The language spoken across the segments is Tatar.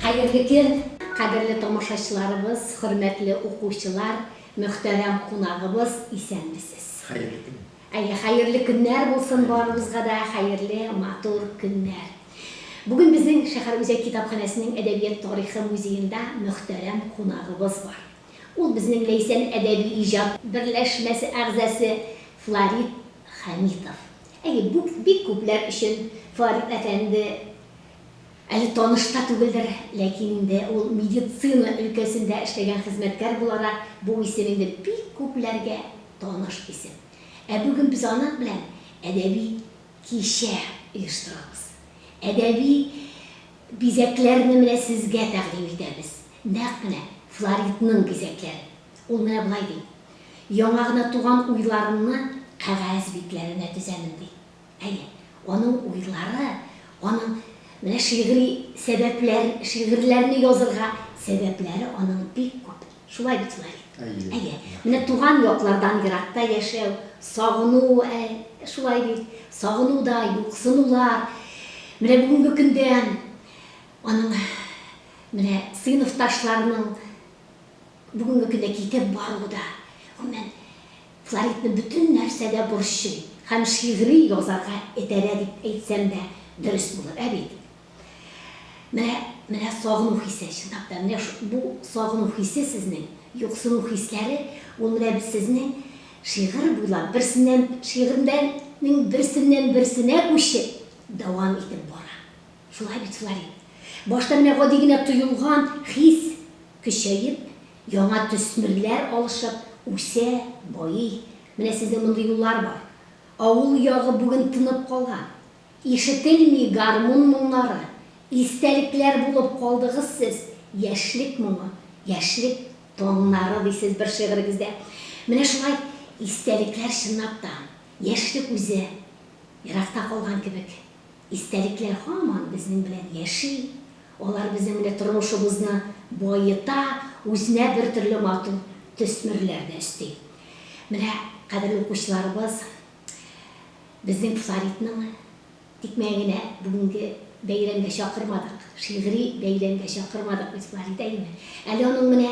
Хәерле көн, кадерле тамашачыларыбыз, хөрмәтле укучылар, мөхтәрәм кунагыбыз, исәнмесез. Хәерле көн. Әйе, хәерле көннәр булсын барыбызга да, хәерле матур көннәр. Бүген безнең шәһәр үзәк китапханәсенең әдәбият тарихы музеенда мөхтәрәм кунагыбыз бар. Ул безнең Ләйсән әдәби-иҗат берләшмәсе әгъзасы Фларит Хәмитов. Әйе, бу бик күпләр өчен Фларит әфәнде әле таныш та түгелдер, ләкин инде ул медицина өлкәсендә эшләгән хезмәткәр буларак, бу исем инде бик күпләргә таныш исем. Ә бүген без аның белән әдәби кичә оештырабыз. Әдәби бизәкләрне менә сезгә тәкъдим итәбез. Нәкъ менә Флоридның бизәкләре. Ул менә болай ди, Яңа гына туган уйларымны кәгазь битләренә тезәмен, ди. Әйе, аның уйлары аның менә шигъри сәбәпләр, шигырьләрне язырга сәбәпләре аның бик күп. Шулай бит, Флорид? Әйе. Әйе. Менә туган яклардан еракта яшәү, сагыну, ә, шулай бит? Сагыну да, юксынулар. Менә бүгенге көндә Аның менә сыйныфташларының бүгенге көндә китеп баруы да, гомумән, Флоридны бөтен нәрсәдә борчый һәм шигъри язарга этәрә дип әйтсәм дә дөрес булыр, ә бит? Менә, менә сагыну хисе, чынлап та, менә шу, бу сагыну хисе сезнең, юксыну хисләре, ул менә сезнең шигырь буйлап, берсеннән, шигырьдән, нең берсеннән-берсенә күчеп, дәвам итеп бара. Шулай бит, Флори. Башта менә гади генә тоелган хис көчәеп, яңа төсмерләр алышып, үсә, байый. Менә сезнең мондый юллар бар. Авыл ягы бүген тынып калган. Ишетелми гармун моңнары. Истәлекләр булып калдыгыз сез, яшьлек моңы, яшьлек таңнары, дисез бер шигырегездә. Менә шулай истәлекләр чынлап та, яшьлек үзе еракта калган кебек. Истәлекләр һаман безнең белән яши, алар безнең менә тормышыбызны баета, үзенә бертөрле матур төсмерләр дә өсти. Менә кадерле укучыларыбыз безнең флоритның тикмәен генә бүгенге бәйрәмгә чакырмадык, шигъри бәйрәмгә чакырмадык без Флорит әнине. Әле аның менә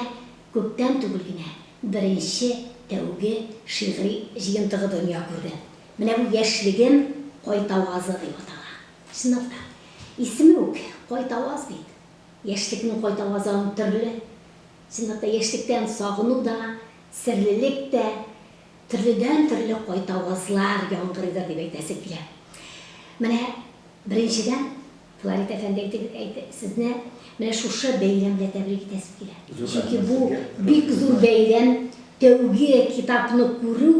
күптән түгел генә беренче, тәүге шигъри җыентыгы дөнья күрде. Менә бу яшьлегем кайтавазы дип атала. Чынлап та, исеме үк кайтаваз бит. Яшьлекнең кайтавазы аның төрле. Чынлап та, яшьлектән сагыну да, серлелек тә, төрледән-төрле кайтавазлар яңгырыйдыр дип әйтәсе килә. Менә беренчедән, Фларит әфәнде әйтегез, әйт, сезне менә шушы бәйрәм белән тәбрик итәсем килә. Чөнки бу бик зур бәйрәм, тәүге китапны күрү,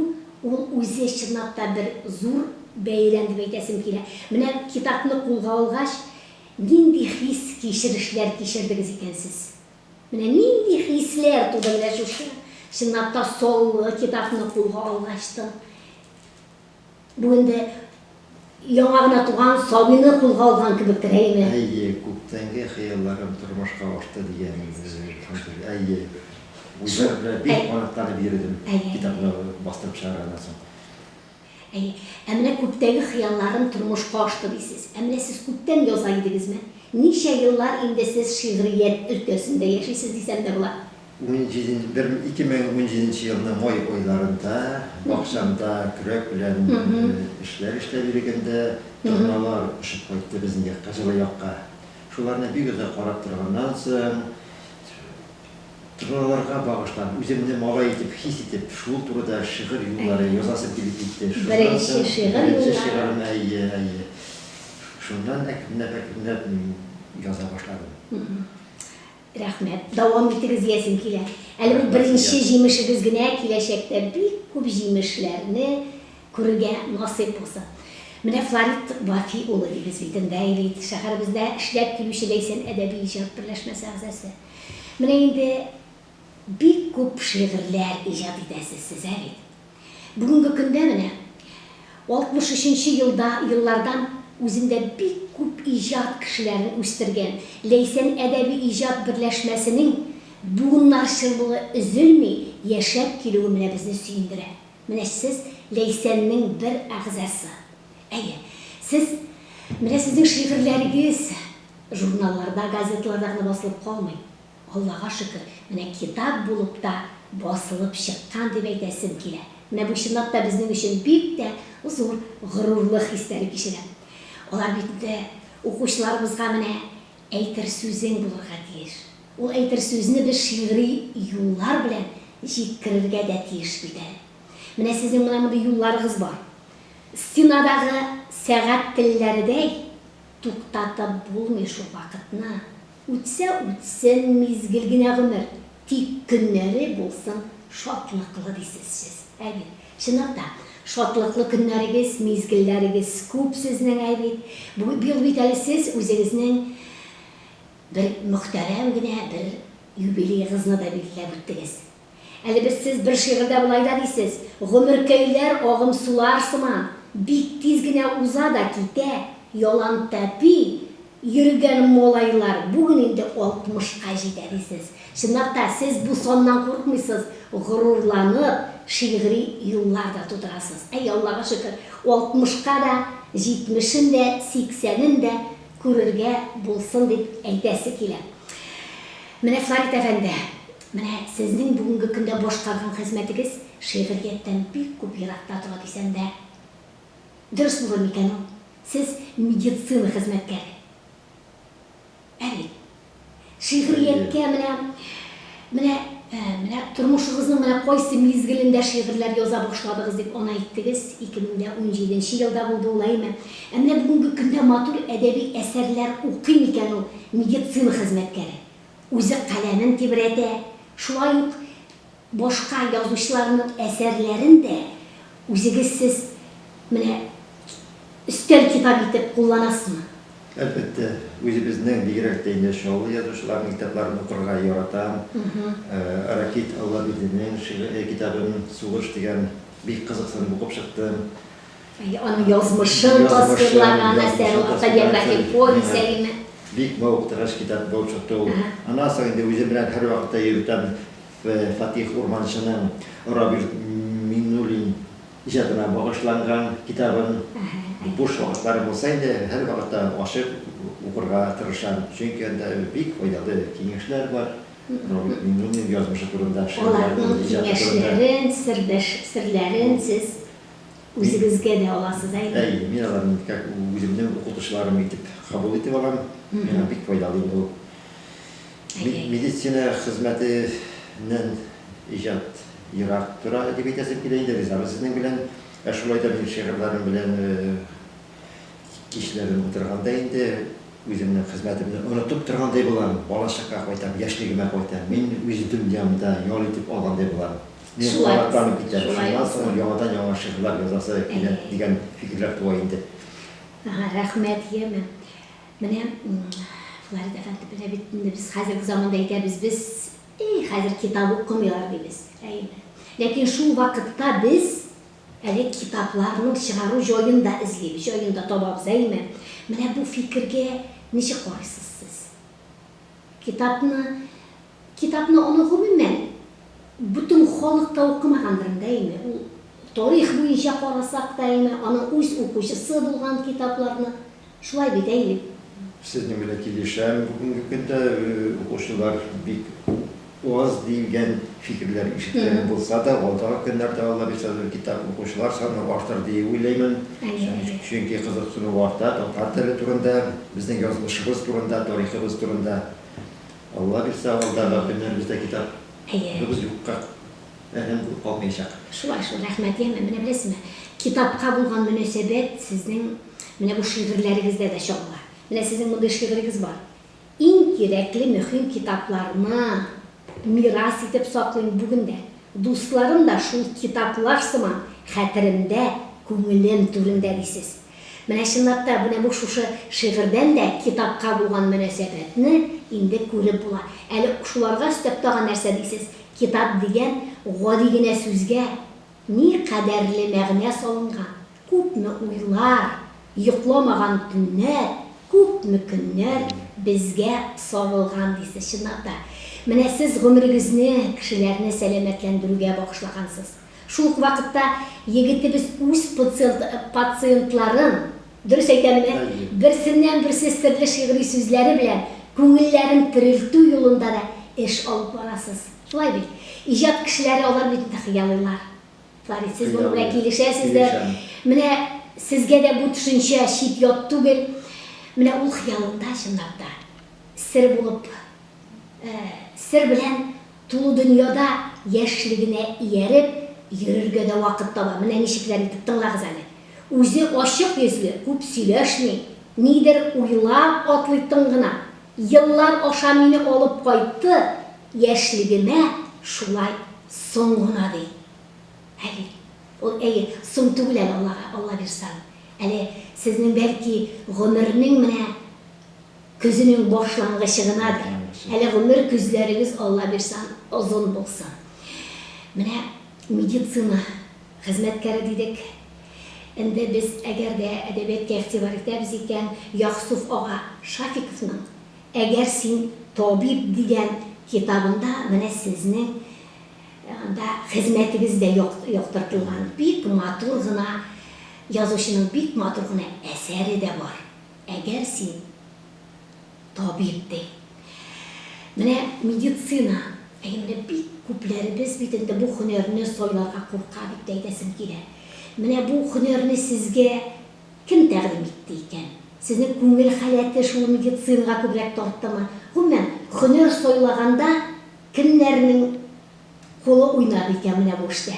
ул үзе чынлап та бер зур бәйрәм дип әйтәсем килә. Менә китапны кулга алгач, нинди хис, кичерешләр кичердегез икән сез? Менә нинди хисләр туды менә шушы, чынлап та, саллы китапны кулга алгач та? Бүген дә яңа гына туган сабыйны кулга алган кебек Рәймә. Әйе, күптәнге хыялларым тормышка ашты, дигән Ханзәдә. Әйе, үзләре белән бик канатланып йөрдем, китапны бастырып чыгарганнан соң. Әйе. Ә менә күптәге хыялларым тормышка ашты, дисез. Ә менә сез күптән яза идегезме? Ничә еллар инде сез шигърият өлкәсендә яшисез, дисәм дә була? Унҗиденче, бер, ике мең унҗиденче елның май айларында бакчамда көрәк белән эшләр эшләп йөрегәндә, торналар очып кайтты безнең якка, җылы якка. Шуларны бик озак карап торганнан соң, торналарга багышлап, үземне малай итеп хис итеп, шул турыда шигырь юллары язасым килеп китте. Беренче шигырь юллары. Беренче шигырем, әйе, әйе. Шуннан әкренләп, әкренләп мин яза башладым. Рәхмәт, дәвам итегез диясем килә. Әле бу беренче җимешегез генә, киләчәктә бик күп җимешләрне күрергә насыйп булсын. Менә Фларит Вафи улы дибез бит инде, әй бит, шәһәребездә эшләп килүче Ләйсән әдәби иҗат берләшмәсе әгъзасы. Менә инде бик күп шигырьләр иҗат итәсез сез, ә бит? Бүгенге көндә менә, 63 нче елда, еллардан үзендә бик күп иҗат кешеләрен үстергән Ләйсән әдәби-иҗат берләшмәсенең буыннарчыллыгы өзелми яшәп килүе менә безне сөендерә. Менә сез, Ләйсәннең бер әгъзасы. Әйе, сез, менә сезнең шигырьләрегез журналларда, газеталарда гына басылып калмый. Аллага шөкер, менә китап булып та басылып чыккан дип әйтәсем килә. Менә бу чынлап та безнең өчен бик тә зур горурлык хисләре кичерә. Алар бит инде укучыларыбызга менә әйтер сүзең булырга тиеш. Ул әйтер сүзне без шигъри юллар белән җиткерергә дә тиеш бит әле. Менә сезнең менә мондый юлларыгыз бар. Стенадагы сәгать телләредәй туктатып булмый шул вакытны. Үтсә үтсен мизгел генә гомер, тик көннәре булсын шатлыклы, дисез сез. Әйе, чынлап та, шатлыклы көннәрегез, мизгелләрегез күп сезнең, әй бит. Бу бил бит әле сез үзегезнең бер мөхтәрәм генә бер юбилеегызны да билгеләп үттегез. Әле без сез бер шигырьдә болай да дисез, Гомеркәйләр агым сулар сыман, Бик тиз генә уза да китә, Ялан тәпи йөргән малайлар Бүген инде алтмышка җитә, дисез. Чынлап та, сез бу саннан курыкмыйсыз, горурланып, шигъри юллар да тудырасыз. Әй, Аллага шөкер, алтмышка да, җитмешен дә, сиксәнен дә күрергә булсын дип әйтәсе килә. Менә Фларит әфәнде, Менә сезнең бүгенге көндә башкарган хезмәтегез шигърияттән бик күп еракта тора дисәм дә дөрес булыр микән ул? Сез медицина хезмәткәре. Ә бит. Шигърияткә менә, менә, менә тормышыгызның менә кайсы мизгелендә шигырьләр яза башладыгыз дип аны әйттегез, 2017 нче елда булды ул, әйме? Ә менә бүгенге көндә матур әдәби әсәрләр укый микән ул медицина хезмәткәре? Үзе каләмен тибрәтә, шулай ук башка язучыларның әсәрләрен дә үзегез сез менә өстәл китабы итеп кулланасызмы? Әлбәттә, үзебезнең, бигрәк тә инде Чаллы язучыларының китапларын укырга яратам. Ракит Аллабирдинең шигъри китабын Сугыш дигән бик кызыксынып укып чыктым. Аның язмышын тасвирлаган әсәр ул, автобиографик повесть әлеме? Бик мавыктыргыч китап булып чыкты ул. Аннан соң инде үзем белән һәрвакытта йөртәм Фатих Урманчының Рабил Миңнуллин иҗатына багышланган китабын. Буш вакытларым булса инде, һәрвакытта ачып укырга тырышам, чөнки анда бик файдалы киңәшләр бар Рабил Миңнуллин язмышы турында, шигырьләре турында, иҗаты турында. Аларның киңәшләрен, сердәш, серләрен сез Үзегезгә дә аласыз, әйе? Әйе, мин аларны как үземнең укытучыларым итеп кабул итеп алам. Миңа бик файдалы инде ул. Медицина хезмәтеннән иҗат ерак тора дип әйтәсем килә инде, ризабыз сезнең белән. Ә шулай да мин шигырьләрем белән кичләрен утырганда инде үземнең хезмәтемне онытып торгандай булам, балачакка кайтам, яшьлегемә кайтам, мин үз дөньямда ял итеп алгандай булам. Мин Шулай канатланып булсын, китәм. шулай Шуннан соң булсын. яңадан яңа шигырьләр язасы килә Әйе. дигән фикерләр туа инде. Ага, рәхмәт, яме. Менә м, Фларит әфәнде белә бит инде без хәзерге заманда әйтәбез без, эй, хәзер китап укымыйлар дибез. Әйеме? Ләкин шул вакытта без әле китапларның чыгару җаен да эзлибез, җаен да табабыз, әйеме? Менә бу фикергә ничек карыйсыз сез? Китапны Китапны аны гомумән бөтен халык та укымагандыр инде, әйеме? Ул тарих буенча карасак та, әйеме, аның үз укучысы булган китапларны. Шулай бит, әйеме? Сезнең белән килешәм, бүгенге көндә укучылар бик аз диелгән фикерләр ишеткән булса да, алдагы көннәрдә Алла бирсә бер китап укучылар саны артыр диеп уйлыймын. Чөнки кызыксыну арта татар теле турында, безнең язмышыбыз турында, тарихыбыз турында. Алла бирсә, алдагы көннәребездә китап Әйе. быбыз юкка әрәм булып калмыячак. Шулай шул, рәхмәт, яме, менә беләсезме, китапка булган мөнәсәбәт сезнең менә бу шигырьләрегездә дә чагыла. Менә сезнең мондый шигырегез бар, Иң кирәкле мөһим китапларны мирас итеп саклыйм бүген дә. Дусларым да шул китаплар сыман хәтеремдә, күңелем түрендә, дисез. Менә чынлап та, менә бу шушы шигырьдән дә китапка булган мөнәсәбәтне инде күреп була. Әле шуларга өстәп тагын нәрсә дисез? Китап дигән гади генә сүзгә ни кадәрле мәгънә салынган, күпме уйлар, йокламаган төннәр, күпме көннәр безгә сарылган дисез. Чынлап та, менә сез гомерегезне кешеләрне сәламәтләндерүгә багышлагансыз. Шул ук вакытта егетебез үз пациентларын, дөрес әйтәмен ә, берсеннән-берсе серле шигъри сүзләре белән күңелләрен терелтү юлында да эш алып барасыз. Шулай бит? Иҗат кешеләре алар бит инде хыялыйлар. Фарит, сез моның белән килешәсездер. Менә сезгә дә бу төшенчә чит-ят түгел. Менә ул хыялында, чынлап та, сер булып, сер белән. Тулы дөньяда яшьлегенә ияреп, йөрергә дә вакыт таба. Менә ничекләр итеп, тыңлагыз әле. Үзе ачык йөзле, күп сөйләшми, нидер уйлап атлый тын гына. Еллар аша мине алып кайтты, яшьлегемә шулай соң гына, ди. Әйе, ул, әйе, соң түгел әле, Аллага, Аллабирса. Әле сезнең, бәлки, гомернең менә. Көзенең башлангычы гынадыр әле гомер көзләрегез Аллабирсан озын булсын. Менә медицина хезмәткәре дидек. Энде без әгәр дә әдәбиятка игътибар итәбез икән, Яксуф ага Шафиковның Әгәр син табиб дигән китабында менә сезнең анда хезмәтегез дә яктыртылган. Бик матур гына язучының бик матур гына әсәре дә бар. Әгәр син табиб, ди. Менә медицина, әйе, менә бик күпләребез бит инде бу һөнәрне сайларга курка, дип тә әйтәсем килә. Менә бу һөнәрне сезгә кем тәкъдим итте икән? Сезнең күңел халәте шул медицинага күбрәк тарттымы? Гомумән, һөнәр сайлаганда кемнәрнең Кулы уйнар икән менә бу эштә.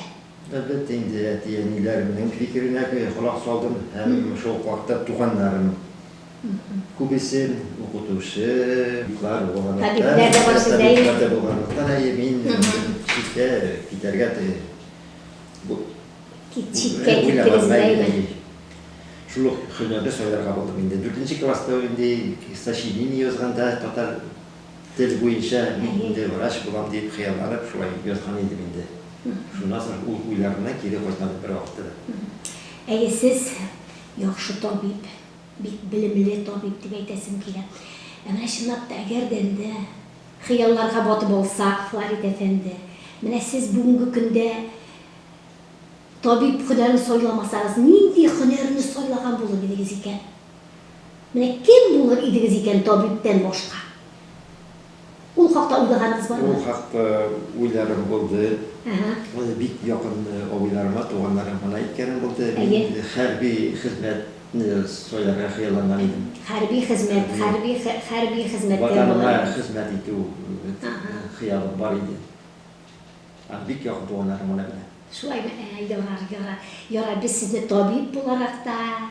Әлбәттә инде, әти-әниләремнең фикеренә колак салдым һәм шул ук вакытта туганнарым күбесен, укытучы, табиблар булганлыктан, әйе, мин читкә китәргә уйламадым. Шул ук һөнәрне сайларга булдым инде. Дүртенче класста инде сочинение язганда татар Тел буенча мин инде врач булам дип хыялланып шулай язган идем инде. Шуннан соң ул уйларына кире кайтмады бервакытта да. Әйе, сез яхшы табиб, бик белемле табиб дип әйтәсем килә. Ә менә чынлап та, әгәр дә инде хыялларга батып алсак, Фларит әфәнде, менә сез бүгенге көндә табиб һөнәрен сайламасагыз, нинди һөнәрне сайлаган булыр идегез икән? Менә кем булыр идегез икән табибтән башка? Ул хакта уйлаганыгыз бармы? Ул хакта уйларым булды. Аны бик якын абыйларыма, туганнарым гына әйткәнем булды. Мин хәрби хезмәтне сайларга хыялланган идем. Хәрби хезмәт, хәрби хәрби хезмәт. Ватаныма хезмәт итү хыялым бар иде. Аны бик якын туганнарым гына белә. Шулаймы? Ярар, ярар. Ярар, без сезне табиб буларак та,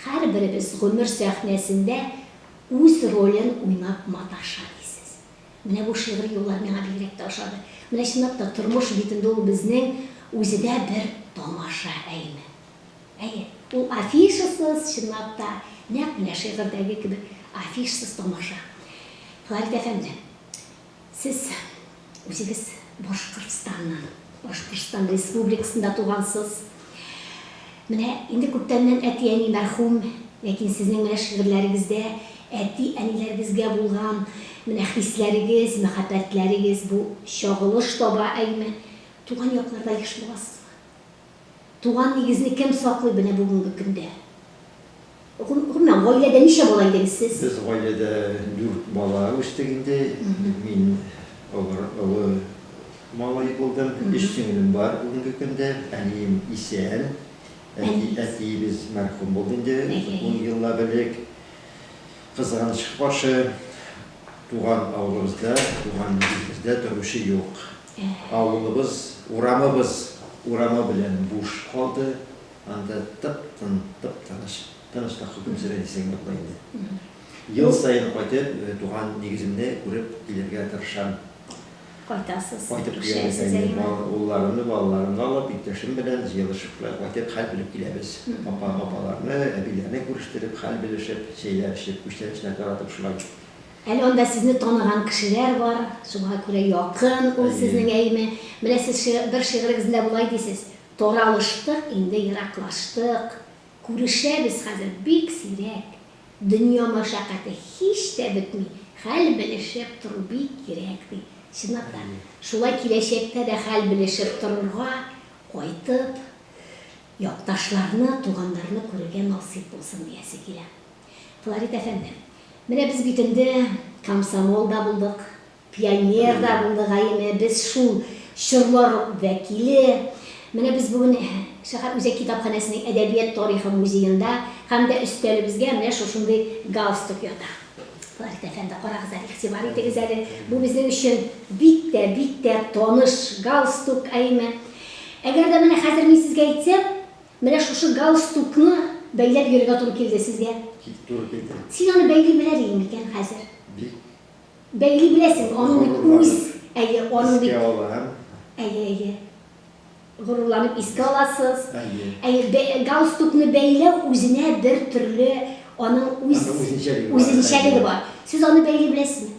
Һәрберебез гомер сәхнәсендә үз ролен уйнап маташа, дисез. Менә бу шигъри юллар миңа бигрәк тә ошады. Менә чынлап та тормыш битендә ул безнең үзедә бер тамаша, әйеме? Әйе, ул афишасыз, чынлап та, нәкъ менә шигырьдәге кебек афишсыз тамаша. Фәрит әфәнде, Сез үзегез Башкортстаннан, Башкортстан Республикасында тугансыз. Менә инде күптәннән әти-әни мәрхүм, ләкин сезнең менә шигырьләрегездә әти-әниләрегезгә булган менә хисләрегез, мәхәббәтләрегез бу чагылыш таба, әйме? Туган якларда еш буласызмы? Туган нигезне кем саклый менә бүгенге көндә? Гомумән, гаиләдә ничә бала идегез сез? Без гаиләдә дүрт бала үстек инде. Мин олы малай булдым. Өч сеңлем бар бүгенге көндә. Әнием исән. Әтиебез мәрхүм булды инде ун еллап элек. Кызганычка каршы, туган авылыбызда, туган нигезебездә торучы юк. Авылыбыз, урамыбыз урамы белән буш калды, анда тып-тын, тып-тыныч, тыныч та хөкем сөрә дисәң юк була инде. Ел саен кайтып, туган нигеземне күреп килергә тырышам. Кайтасыз, Кайтып киләбез, әйе, улларымны, балаларымны алып, иптәшем белән җыелышып кайтып, хәл белеп киләбез. Апа, апаларны, әбиләрне күрештереп, хәл белешеп, чәйләр эчеп, күчтәнәчләр таратып шулай. Әле анда сезне таныган кешеләр бар, шуңа күрә якын ул Әйе. сезнең әйеме? Менә сез ши бер шигырегездә болай дисез, Таралыштык, инде ераклаштык, Күрешәбез хәзер бик сирәк, Дөнья мәшәкате һич тә бетми, Хәл белешеп тору бик кирәк, ди. Чынлап та, Әйе. шулай киләчәктә дә хәл белешеп торырга, кайтып, якташларны, туганнарны күрергә насыйп булсын диясе килә. Фларит әфәнде, менә без бит энде комсомол да булдык, пионер да булдык, әйеме, без шул чорлар вәкиле. Менә без бүген шәһәр үзәк китапханәсенең әдәбият тарихы музеенда һәм дә өстәлебезгә менә шушындый галстук ята. Фларит әфәнде, карагыз әле, игътибар итегез әле, бу безнең өчен бик тә, бик тә таныш галстук, әйеме. Әгәр дә менә хәзер мин сезгә әйтсәм, Менә шушы галстукны бәйләп йөрергә туры килде сезгә. Кит, туры килде. Син аны бәйли беләр идең микән хәзер? Бик. Бәйли беләсең, аның бит үз, әйе, аның бит. Искә алам. Әйе, әйе. Горурланып искә аласыз. Әйе. Әйе, галстукны бәйләү үзенә бер төрле аның үз. Аның үзенчәлеге бар. Үзенчәлеге бар. Сез аны бәйли беләсезме?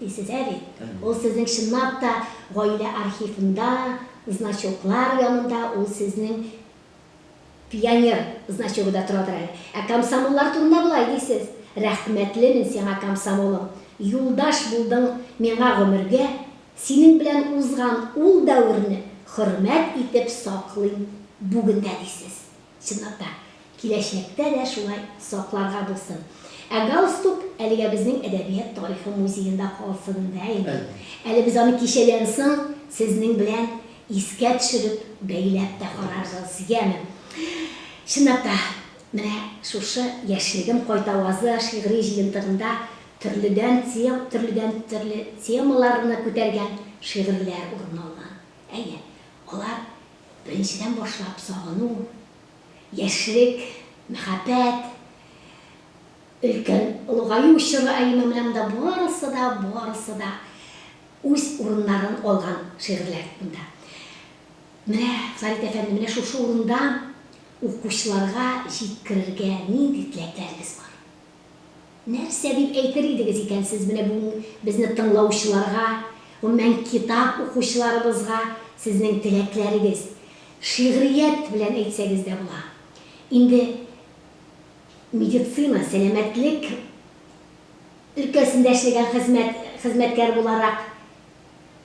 Исезә бит, ул сезнең чынлап та гаилә архивында, значоклар янында ул сезнең пионер значогы да торадыр әле. Ә комсомоллар турында болай дисез, Рәхмәтлемен сиңа, комсомолым, юлдаш булдың миңа гомергә, синең белән узган ул дәверне хөрмәт итеп саклыйм бүген дә, дисез. Чынлап та, киләчәктә дә шулай сакларга булсын. Ә галстук әлегә безнең Әдәбият тарихы музеенда калсын да инде. Әле без аны кичәдән соң сезнең белән искә төшереп, бәйләп тә карарбыз, яме? Чынлап та, менә шушы Яшьлегем кайтавазы шигъри җыентыгында төрледән тем, төрледән төрле темаларны күтәргән шигырьләр урын алган. Әйе, алар Беренчедән башлап сагыну, яшьлек, мәхәббәт, өлкән олыгаю чоры, ә имам белән монда барысы да, барысы да үз урыннарын алган шигырьләр монда. Менә Фәрит әфәнде, менә шушы урында укучыларга җиткерергә нинди теләкләрегез бар? Нәрсә дип әйтер идегез икән сез менә бүген безне тыңлаучыларга, гомумән, китап укучыларыбызга сезнең теләкләрегез? Шигърият белән әйтсәгез дә була. Инде медицина, сәламәтлек өлкәсендә эшләгән хезмәт, хезмәткәр буларак,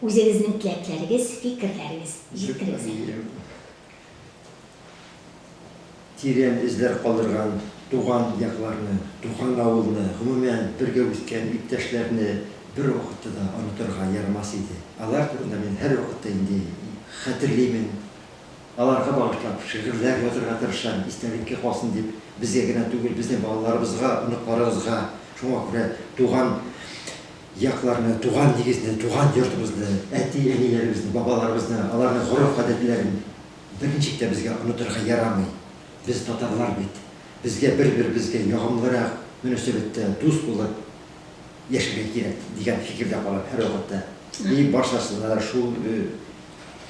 Үзегезнең теләкләрегез, фикерләрегез җиткерегез әле. Тирән эзләр калдырган туган якларны, туган авылны, гомумән, бергә үскән иптәшләрне бер вакытта да онытырга ярамас иде. Алар турында мин һәрвакытта инде хәтерлимен, аларга багышлап шигырьләр язырга тырышам, истәлеккә калсын дип, безгә генә түгел, безнең балаларыбызга, оныкларыбызга. Шуңа күрә туган. якларны, туган нигезне, туган йортыбызны, әти-әниләребезне, бабаларыбызны, аларның гореф-гадәтләрен берничек тә безгә онытырга ярамый. Без татарлар бит. Безгә бер-беребезгә ягымлырак мөнәсәбәттә, дус булып яшәргә кирәк, дигән фикердә калам һәрвакытта. И барчасына да шул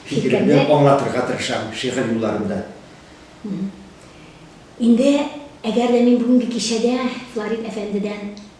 фикеремне аңлатырга тырышам шигырь юлларында. Инде әгәр дә мин бүгенге кичәдә Флорид әфәндедән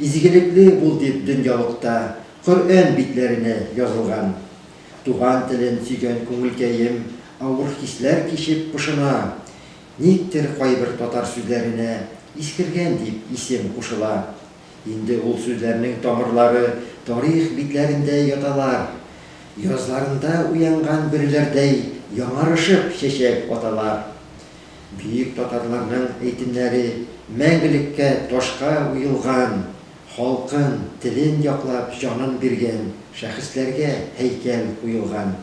Изгелекле бул дип дөньялыкта Коръән битләренә язылган. Туган телен сөйгән күңелкәем авыр хисләр кичеп пошына. Никтер кайбер татар сүзләренә искергән дип исем кушыла. Инде ул сүзләрнең тамырлары тарих битләрендә яталар. Язларында уянган бөреләрдәй яңарышып чәчәк аталар. Бөек татарларның әйтемнәре мәңгелеккә ташка уелган, халкын, телен яклап җанын биргән шәхесләргә һәйкәл куелган.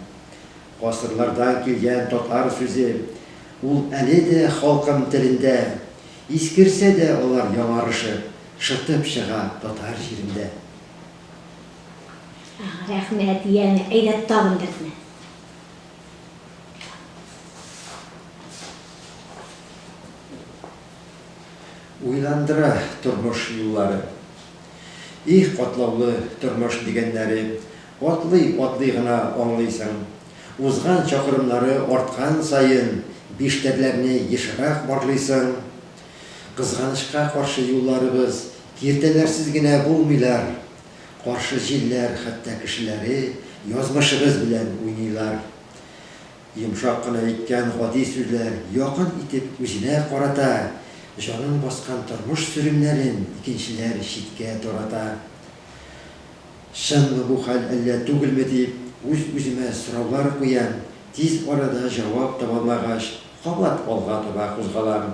Гасырлардан килгән татар сүзе, ул әле дә халкым телендә, искерсә дә алар яңарышып, шытып чыга татар җирендә. Рәхмәт, янә әйдә тагын берне. Уйландыра тормыш юллары. Их, катлаулы тормыш дигәннәре, атлый-атлый гына аңлыйсың. Узган чакрымнары арткан саен, биштәрләрне ешрак барлыйсың. Кызганычка каршы, юлларыбыз киртәләрсез генә булмыйлар. Каршы җилләр хәтта кешеләре язмышыгыз белән уйныйлар. Йомшак кына әйткән гади сүзләр якын итеп үзенә карата, җанын баскан тормыш сөремнәрен икенчеләр читкә тарата. Чынмы бу хәл, әллә түгелме дип, үз-үземә сораулар куям, тиз арада җавап табалмагач, кабат алга таба кузгалам.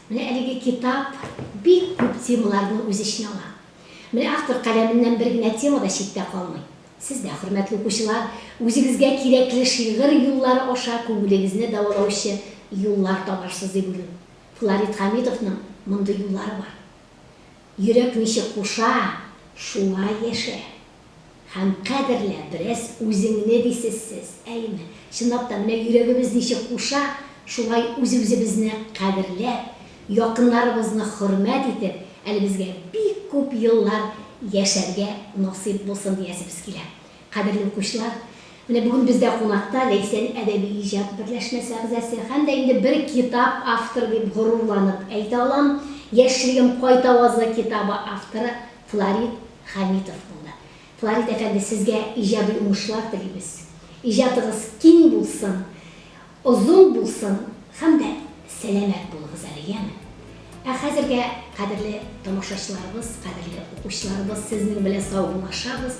Менә әлеге китап бик күп темаларны үз эченә ала. Менә автор каләменнән бер генә тема да читтә калмый. Сез дә, хөрмәтле укучылар, үзегезгә кирәкле шигырь юллары аша күңелегезне дәвалаучы юллар табарсыз дип уйлыйм. Фларит Хәмитовның мондый юллары бар. Йөрәк ничек куша, шулай яшә. Һәм кадерлә, бераз үзеңне дисезсез, әйеме? Чынлап та, менә йөрәгебез ничек куша, шулай үз-үзебезне кадерләп, якыннарыбызны хөрмәт итеп, әле безгә бик күп еллар яшәргә насыйп булсын диясебез килә. Кадерле укучылар, менә бүген бездә кунакта Ләйсән әдәби иҗат берләшмәсе әгъзасы һәм дә инде бер китап авторы дип горурланып әйтә алам, Яшьлегем кайта вазы китабы авторы, Фларит Хәмитов улы. Фларит әфәнде, сезгә иҗади уңышлар телибез. Иҗатыгыз киң булсын, озын булсын һәм дә сәламәт булыгыз әле, яме? Ә хәзергә, кадерле тамашачыларыбыз, кадерле укучыларыбыз, сезнең белән саубуллашабыз.